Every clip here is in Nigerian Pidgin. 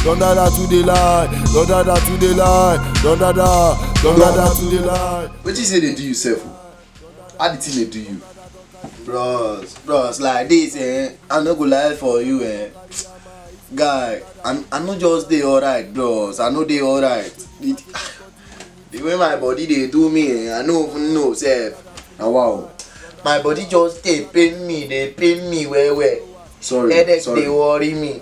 Don dada to the lie, don dada to the lie, don dada, don dada to the lie. Wetin you say dey do you sef o? How the thing dey do you? Bros, bros, like this eh, I no go lie for you eh. Guy, I, I no just dey alright bros, I no dey alright. The, the way my body dey do me eh, I no even know sef. Na wow. My body just dey pain me, dey pain me well well. Sorry, Headache sorry. dey worry me.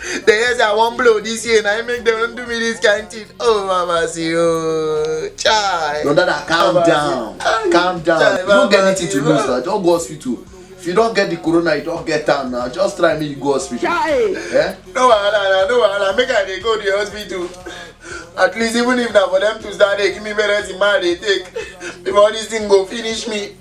The heads I won't blow this year, and I make them do me this kind of thing. Oh, Mama, see, oh, child. No, Dada, calm Mama, down. Ay, calm down. Child, you don't get anything to lose now. Don't go hospital. If you don't get the corona, you don't get time now. Just try me, you go hospital. Child. Eh? No, wahala, no, wahala. Make I dey go to the hospital. At least even if na for them to start, they give me parents in mind, they take. Before this thing go finish me.